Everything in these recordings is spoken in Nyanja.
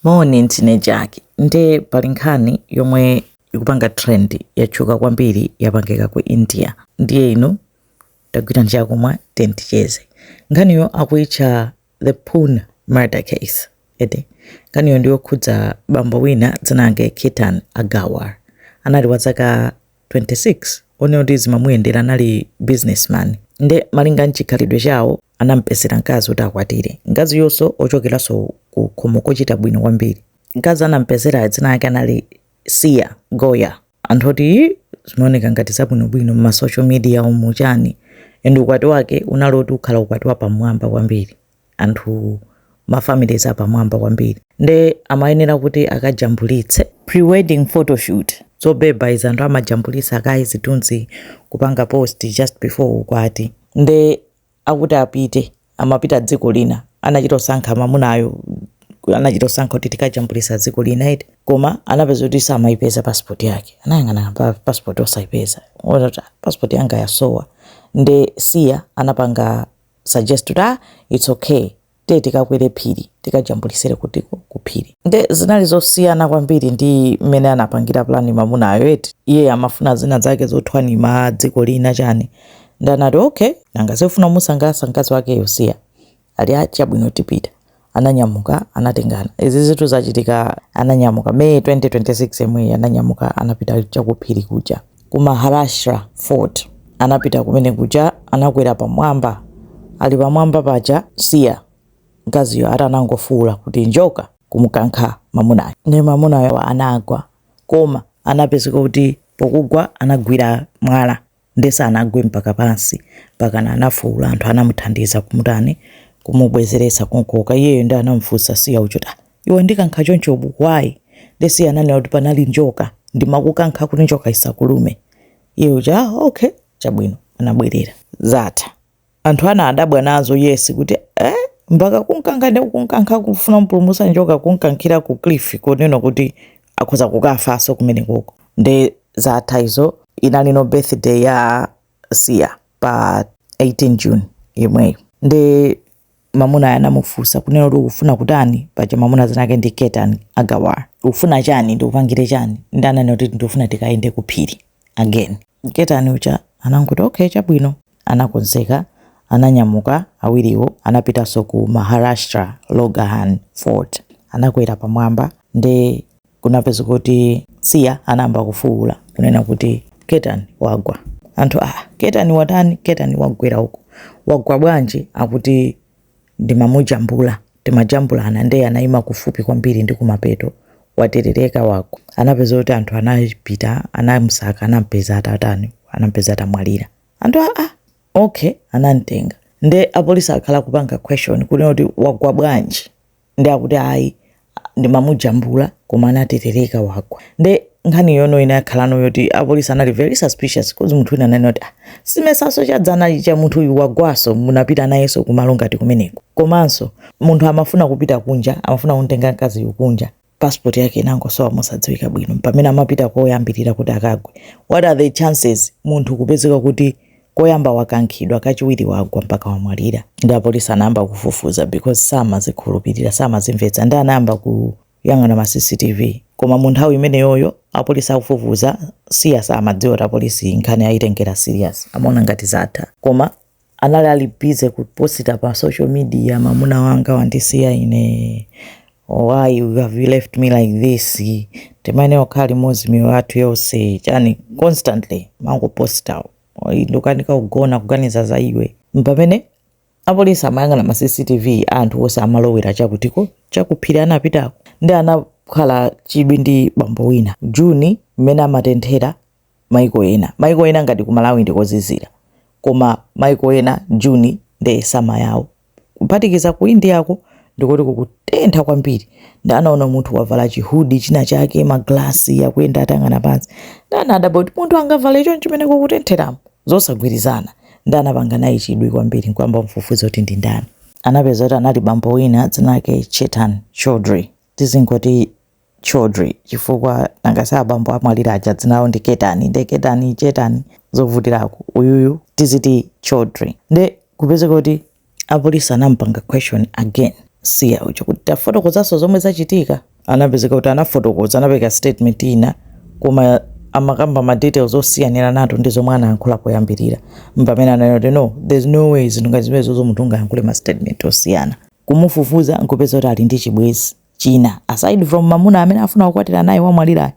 Moni, ndine Jack. Nde pali nkhani yomwe ikupanga trend yatchuka kwambiri yapangika ku India. Ndiye inu tagwirani chakumwa then ticheze. Nkhaniyo akuitcha The Pune Murder Case. Ede, nkhaniyo ndiyokhudza bambo wina dzina lake Ketan Agarwal. Anali wa zaka 26 oneka kuti zimamuyendera anali businessman nde malinga nchikhalidwe chawo anampezera mkazi kuti akwatire mkaziyonso ochokeranso ku khomo kochita bwino kwambiri mkazi anampezera dzina lake anali Siya Goyal anthu oti zimaoneka ngati zabwinobwino m'ma social media umu chani and ukwati wake unali oti ukhala ukwati wapamwamba kwambiri anthu ma families apamwamba kwambiri nde amayenera kuti akajambulitse prewedding photoshoot zobeba izi anthu amajambulitsa kaye zithunzi kupanga post just before ukwati nde akuti apite amapita dziko lina anachita osankha mamunayo anachita osankha kuti tikajambulitsa dziko lina iti koma anapeza kuti samaipeza passport yake anayang'ana passport osaipeza kuti, "Ah, passport yanga yasowa nde siya anapanga suggest kuti ah it's okay tiye tikakwere phiri tikajambulitsire kutiko ku phiri nde zinali zosiyana kwambiri ndi mmene anapangira plani mamunayo eti iye amafuna zina zake zothwanima dziko lina chani nde anati okay nanga si afuna musangalatsa mkazi wakeyo siya ali ah chabwino tipita ananyamuka anatengana izi zitu zachitika ananyamuka may 2026 yemweyi ananyamuka anapita chakuphiri kuja ku maharashtra fort anapita kumene kuja anakwera pamwamba ali pamwamba paja siya mkaziyo ati anangofuula kuti njoka kumukankha mamunayo nde mamunayo anagwa koma anapezeka kuti pokugwa anagwira mwala nde sanagwe mpaka pansi mpakana anafuula anthu anamuthandiza kumutani kumubwezeretsa kumkoka iyeyo nde anamufunsa siya uja kuti ah iwe wandikankha choncho but why nde siya ananena kuti panali njoka ndimakukankha kuti njoka isakulume iye uja ah okay chabwino anabwerera zatha anthu ana adabwa nazo yes kuti eh, mpaka kumkankha ndi kumkankha kufuna mpulumutsa njoka kumkankhira ku cliff kunena kuti akhoza kukafanso kumene kuko nde zatha izo inalino birthday ya siya pa 18 june yemweyo nde mamunayo anamufunsa kunena kuti ukufuna kutani paja mamuna dzina lake ndi ketan agarwal ufuna chani ndikupangire chani nde ananena kuti ndikufuna tikayende kuphiri again ketan uja anangoti okay chabwino anakonzeka ananyamuka awiriwo anapitanso ku maharashtra lohagad fort anakwera pamwamba nde kunapeza kuti Siya anayamba kufuwula kunena kuti, Ketan wagwa! Anthu, Aa! Ketan watani? Ketan wagwera uko. Wagwa bwanji? Akuti, Ndimamujambula, timajambulana ndiye anayima kufupi kwambiri ndi kumapeto, waterereka, wagwa. Anapeza kuti anthu anapita, anamusaka, anampeza atatani, anampeza atamwalira. Anthu, Aa! Okay, anamtenga. Nde apolisi akhala kupanga question kunena kuti wagwa bwanji? nde akuti ayi ndimamujambula koma anaterereka wagwa nde nkhani yo inakhalano yoti apolisi anali very suspicious cause munthu wina ananena kuti ah, simesa nso chadzana icha munthu uyu wagwanso munapita nayenso kumalo ngati kumeneko komanso munthu amafuna kupita kunja amafuna kumtenga mkazi uyu kunja passport yake inangosowa mosadziwika bwino pamene amapita koyambirira kuti akagwe what are the chances munthu kupezeka kuti koyamba wakankhidwa kachiwiri wagwa mpaka wamwalira ndi apolisi anayamba kufufuza because samazikhulupirira samazimvetsa ndi anayamba kuyang'ana ma cctv koma mu nthawi imeneyoyo apolisi akufufuza siya samadziwa kuti apolisi nkhani ayitengera serious amaona ngati zatha koma anali ali busy kuposita pa social media mamuna wanga wandisiya ine why have you left me like this timayenera kukhala limodzi miyoyo yathu yonse chani constantly mangoposta ndikukanika kugona kuganiza za iwe pamene apolisi amayang'ana ma cctv anthu onse amalowera chakutiko chakuphiri anapitako ndi anakhala chidwi ndi bambo wina juni mmene amatenthera maiko ena maiko ena ngati kumalawi ndikozizira koma maiko ena june ndi summer yawo kuphatikiza ku indiako ndikuti kukutentha kwambiri ndanaona munthu wavala chihudi china chake maglasi akuyenda atayang'ana pansi ndanadabwa kuti munthu angavale choncho mmene kukutentheramo zosagwirizana ndanapanga naye chidwi kwambiri nkuyamba mfufuza kuti ndi ndani anapeza kuti anali bambo wina dzina lake chetan chaudhry tizingoti Chaudhry chifukwa nanga si abambo amwalira aja dzina lawo ndi Ketan nde Ketan Chetan zovutirako uyuyu tiziti Chaudhry nde kupezeka kuti apolisi anamupanga question again siya uja kuti tafotokozanso zomwe zachitika anapezeka kuti anafotokoza anapereka statement ina koma amakamba ma details osiyaniranatu ndi zomwe anayankhula poyambirira mpamene ananena kuti no there's no way zinthu ngati zimenezozo munthu ungayankhule ma statement osiyana kumufufuza nkupeza kuti ali ndi chibwezi china aside from mamuna amene amafuna kukwatira naye wamwalirayo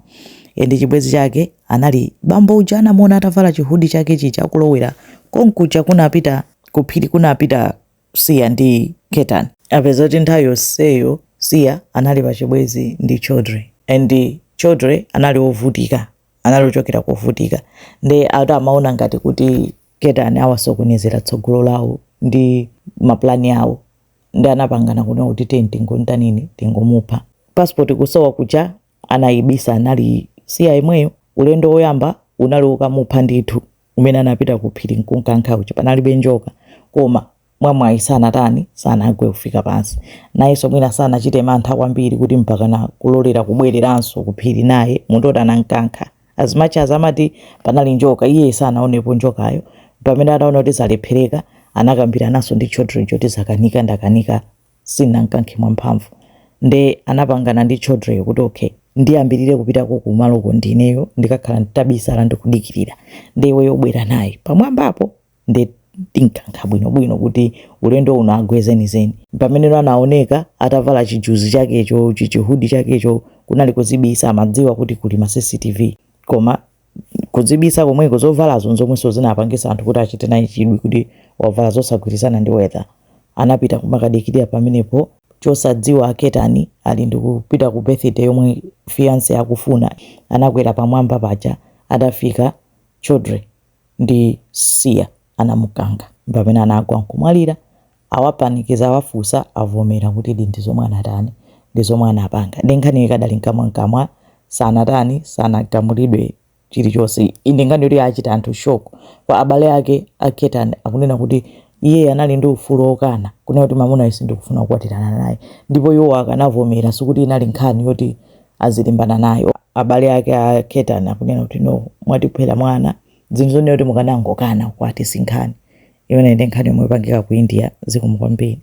ende chibwezi chake anali bambo uja anamuona atavala chihudi chake chija akulowera konkuja kunapita kuphiri kunapita siya ndi ketan apeza kuti nthawi yonseyo siya anali pa chibwezi ndi chaudhry and chaudhry anali ovutika anali ochokera kovutika nde ati amaona ngati kuti ketan awasokonezera tsogolo lawo ndi maplani awo nde anapangana kunena kuti tiye tingontanini tingomupha passport kusowa kuja anayibisa anali Siya yemweyo ulendo woyamba unali wokamupha ndithu umene anapita ku phiri nkunkankha uja panalibe njoka koma mwamwayi sanatani sanagwe kufika pansi nayenso mwina sanachite mantha kwambiri kuti mpakana kulolera kubwereranso ku phiri naye munthu oti anankankha As much as amati panali njoka iye sanaonepo njokayo pamene ataona kuti zalephereka anakambirananso ndi Chaudhry kuti zakanika ndakanika sinamkankhe mwamphamvu nde anapangana ndi Chaudhry kuti okay ndiyambirire kupitako kumaloko ndineyo ndikakhala nditabisala ndikudikirira nde iweyo ubwere naye pamwambapo nde tinkankha bwinobwino kuti ulendo uno agwe zenizeni pamene anaoneka atavala chijuzi chakecho chichihudi chakecho kunali kudzibisa amadziwa kuti kuli ma cctv koma kudzibisa komweko zovalazo nzomwenso zinapangisa anthu kuti achite naye chidwi kuti wavala zosagwirizana ndi weather anapita kumakadikirira pamenepo chosadziwa a Ketan ali ndikupita ku birthday yomwe fiance akufuna anakwera pamwamba paja atafika Chaudhry ndi Siya anamukankha ndipamene anagwa nkumwalira awapanikiza awafunsa avomera kutidi ndizomwe anatani ndizomwe anapanga nde nkhaniyo ikadali nkamwankamwa sanatani sanagamulidwe chilichonse iyi ndi nkhani yoti yachita anthu shock kwa abale ake a Ketan akunena kuti iyeyi anali ndi ufulu okana kunena kuti mamunayo sindikufuna kukwatirana naye ndipo iwowo akanavomera sikuti inali nkhani yoti azilimbana nayo abale ake a Ketan akunena kuti no mwatiphera mwana zinthu zonena kuti mukanangokana kwati sinkhani imene nde nkhani yomwe yapangika ku India zikomo kwambiri